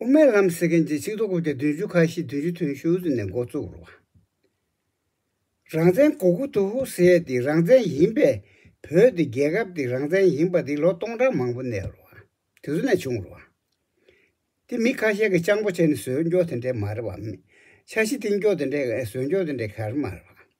དབུ་མའི་ལམ་ཟེར་མཁན་གྱི་ཆིག་ཐོ་དགུ་སྟེ་བདུན་ཅུ་ཁ་ཤས་བདུན་ཅུ་དོན་ཞུ་ནས་མགོ་བཙུགས་རོགས། རང་བཙན་གོ་གུ་དུ་ཧུ་ཟེར་ཏེ་རང་བཙན་ཡིན་པས་བོད་དེ་རྒྱལ་ཁབ་དེ་རང་བཙན་ཡིན་པ་དེ་ལོ་སྟོང་ཕྲག་མང་པོ་ནས་རོགས། དེ་ཚོ་ནས་བྱུང་རོགས། དེ་མི་ཁ་ཤས་ཀྱི་སྤྱང་པོ་བྱས་ནས་ཟོལ་འཇོག་དེ་འདྲས་མ་རེད་བ། ཆ་ཤི་འཐེན་འཇོག་དེ་འདྲས་ཟོལ་འཇོག་དེ་འདྲས་ག་རེ་མ་རེད་བ།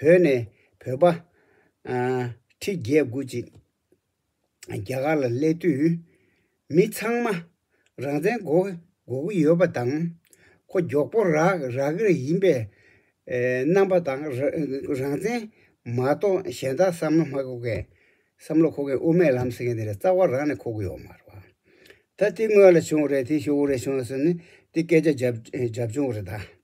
བོད་ནས་བོད་པ། ཁྲི་བརྒྱད་དགུ་ཅིག་རྒྱ་གར་ལ་སླེབས་དུས། མི་ཚང་མ་རང་བཙན་དགོ་གི་ཡོད་པ་དང། ཁོ་མགྱོགས་པོ་རག་གིར་ཡིན་པའི་རྣམ་པ་དང། རང་བཙན་མ་གཏོགས་གཞན་དག་བསམ་བློ་མ་འཁོར་མཁན། བསམ་བློ་འཁོར་མཁན་དབུ་མའི་ལམ་ཟེར་མཁན་དེ་ལ་རྩ་བ་རང་ནས་འཁོར་གི་ཡོད་མ་རེད་བ། ད་དེ་དངོས་ལ་བྱུང་བ་རེད་དེ་ཤོག་བུ་རེད་བྱུང་བ་ཟེར་ནས་དེ་སྐད་ཆ་རྒྱབ་བྱུང་བ་རེད་ད།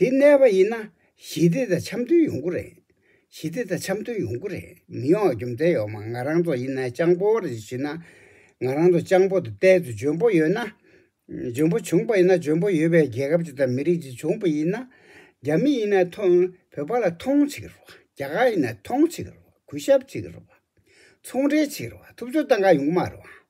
དེ་གནས་པ་ཡིན་ན་ཞི་བདེ་དང་འཆམ་མཐུན་ཡོང་གི་རེད། ཞི་བདེ་དང་འཆམ་མཐུན་ཡོང་གི་རེད་མི་ཡོང་བ་རྒྱུ་མཚན་ཡོད་མ་ང་རང་ཚོ་ཡིན་ན་སྤྱང་པོ་རེད་ཞུས་ན། ང་རང་ཚོ་སྤྱང་པོ་དང་གཏན་དུ་འཇོན་པོ་ཡོད་ན། འཇོན་པོ་བྱུང་པ་ཡིན་ན་འཇོན་པོ་ཡོད་པའི་རྒྱལ་ཁབ་ཅིག་དང་མི་རིགས་ཅིག་བྱུང་པ་ཡིན་ན། རྒྱ་མི་ཡིན་ན་ཐོན་བོད་པ་ལ་ཐོངས་བྱེད་ཀྱི་རོགས་རྒྱ་གར་ཡིན་ན་ཐོངས་བྱེད་ཀྱི་རོགས་གུས་ཞབས་བྱེད་ཀྱི་རོགས། ཚོང་འབྲེལ་བྱེད་ཀྱི་རོགས་ཐུབ་ཚོད་བཏང་ག་ཡོང་གི་མ་རོགས།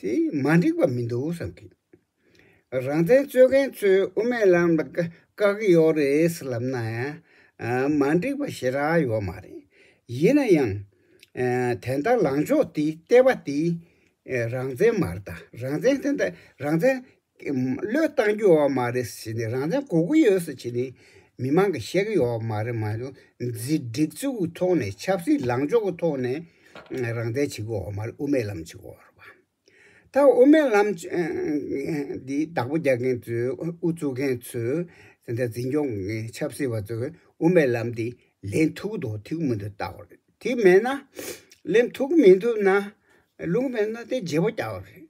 དེ་མ་འགྲིག་པ་མི་འདུག་བསམ་གི། རང་བཙན་རྩོད་མཁན་ཚོས་དབུ་མའི་ལམ་ལ་དཀའ་གི་ཡོག་རེད་ལབ་ན། མ་འགྲིག་པ་ཞེ་དྲག་ཡོག་མ་རེད། ཡིན་ན་ཡང། དེ་འདྲ་ལངས་ཕྱོགས་དེ་བལྟས་པ་དེ། རང་བཙན་མ་རེད་ད་རང་བཙན་དེ་འདྲ་རང་བཙན་བློས་བཏང་རྒྱུ་ཡོད་མ་རེད་ཟེར་ནས་རང་བཙན་གོ་གི་ཡོད་ཟེར་བྱས་ནས་མི་མང་གི་བཤད་གི་ཡོད་མ་རེད་མ་གཞུང་འཛིན་སྒྲིག་འཛུགས་ཀྱི་ཐོག་ནས་ཆབ་སྲིད་ལངས་ཕྱོགས་ཀྱི་ཐོག་ནས་རང་བཙན་བྱེད་གི་ཡོད་མ་རེད་དབུ་མའི་ལམ་བྱེད་གི་ཡོད་རེད་པ། ད་དབུ་མའི་ལམ་འདི་བདག་པོ་རྒྱག་མཁན་ཚོས་དབུ་བཙུགས་མཁན་ཚོས་དེ་འདྲ་འཛིན་སྐྱོང་གི་མཁན་ཆབ་སྲིད་པ་ཚོས་དབུ་མའི་ལམ་འདི་ལེན་ཐུབ་ཀྱི་འདུག་ཐུག་གི་མི་འདུག་བལྟ་བ་རེད་དེ་མེད་ན་ལེན་ཐུག་གི་མི་འདུག་ན་ལུང་མེད་ན་དེ་བརྗེ་པོ་བརྒྱག་པ་རེད།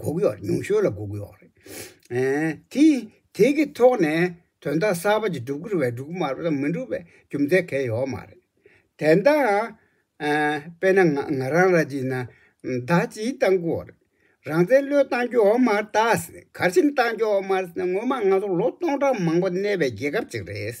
འགུགས་གཡོག་རེད་ཉུང་ཤོས་ལ་འགུགས་གཡོག་རེད། དེ་དེ་གི་ཐོག་ནས་དོན་དག་གསར་པ་ཅིག་སྒྲུབ་ཁུར་བས་སྒྲུབ་མ་རུ་དང་མི་འགྲུབ་པའི་རྒྱུ་མཚན་གལ་ཡོད་མ་རེད། དེ་འདྲ་དཔེར་ན་ང་རང་ར་གཅིག་ན་ཟླ་གཅིག་བཏང་གི་འོ་རེད། རང་བཙན་བློས་བཏང་རྒྱུ་འོ་མ་རྟགས་གར་ཆེན་བཏང་རྒྱུ་འོ་མ་རེད་ང་ཚོ་ལོ་སྟོང་ཕྲག་མང་པོ་གནས་པའི་རྒྱལ་ཁབ་ཅིག་རེད།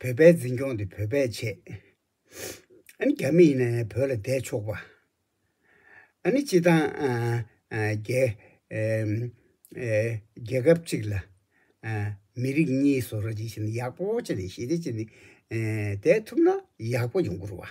བོད་པའི་འཛིན་སྐྱོང་དེ་བོད་པས་བྱེད། ཨ་ནི་རྒྱ་མི་ཡིན་ན་ཡང་བོད་ལ་བསྡད་ཆོག་པ། ཨ་ནི་སྤྱི་དང། རྒྱལ། རྒྱལ་ཁབ་གཅིག་ལ། མི་རིགས་གཉིས་བཟོ་ར་ཅིག་བྱེད་ན་ཡག་པོ་བྱེད་ནས་ཞི་བདེ་བྱེད་ནས་བསྡད་ཐུབ་ན་ཡག་པོ་ཡོང་གི་རུ་བ།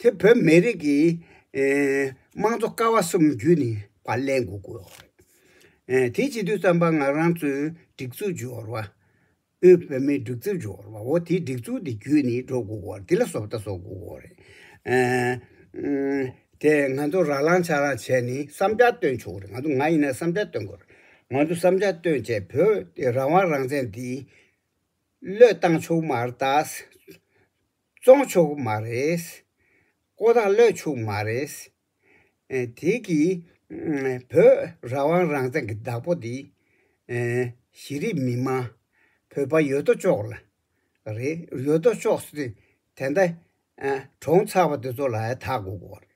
དེ་བོད་མི་རིགས་ཀྱི་དམངས་གཙོ་ཀ་བ་གསུམ་བརྒྱུད་ནས་བ་ལན་དགུ་དགོས་བ་རེད། དེའི་སྤྱི་འཐུས་རྩམ་པ་ང་རང་ཚོའི་སྒྲིག་འཛུགས་འབྱོར་བ། དབུས་བོད་མིའི་སྒྲིག་འཛུགས་འབྱོར་བ་འོ་དེའི་སྒྲིག་འཛུགས་དེ་བརྒྱུད་ནས་འགྲོ་དགོས་བ་རེད་དེ་ལ་བཟོ་ལྟ་བཟོ་དགོས་བ་རེད། དེ་ང་ཚོ་ར་ལང་ཆ་ལང་བྱས་ནས་བསམ་འཆར་བཏོན་ཆོག་གོ་རེད་ང་ཚོ་ང་ཡིན་ན་བསམ་འཆར་བཏོན་དགོས་རེད། ང་ཚོ་བསམ་འཆར་བཏོན་བྱས་བོད་རང་དབང་རང་བཙན་དེ་བློས་བཏང་ཆོག་མ་རེད་ད། བཙོང་ཆོག་གི་མ་རེད། ཀོ་ཐག་གློད་ཆོག་གི་མ་རེད། དེ་གི་བོད་རང་དབང་རང་བཙན་གི་བདག་པོ་དེ་གཞི་རིགས་མི་དམངས་བོད་པ་ཡོད་དོ་ཅོག་ལ་རེད། ཡོད་དོ་ཅོག་སུ་དེ་འདྲ་གྲོངས་ཚར་བ་དེ་ཚོ་ལ་ཡང་དག་དགོས་དགོས་རེད།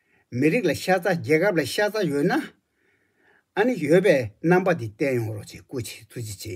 མི་རིགས་ལ་ཤ་ཚ་རྒྱལ་ཁབ་ལ་ཤ་ཚ་ཡོད་ན། ཨ་ནི་ཡོད་པའི་རྣམ་པ་དེ་བསྟན་ཡོང་རོགས་ཅེས་སྐུ་ཚེ་ཐུགས་རྗེ་ཆེ།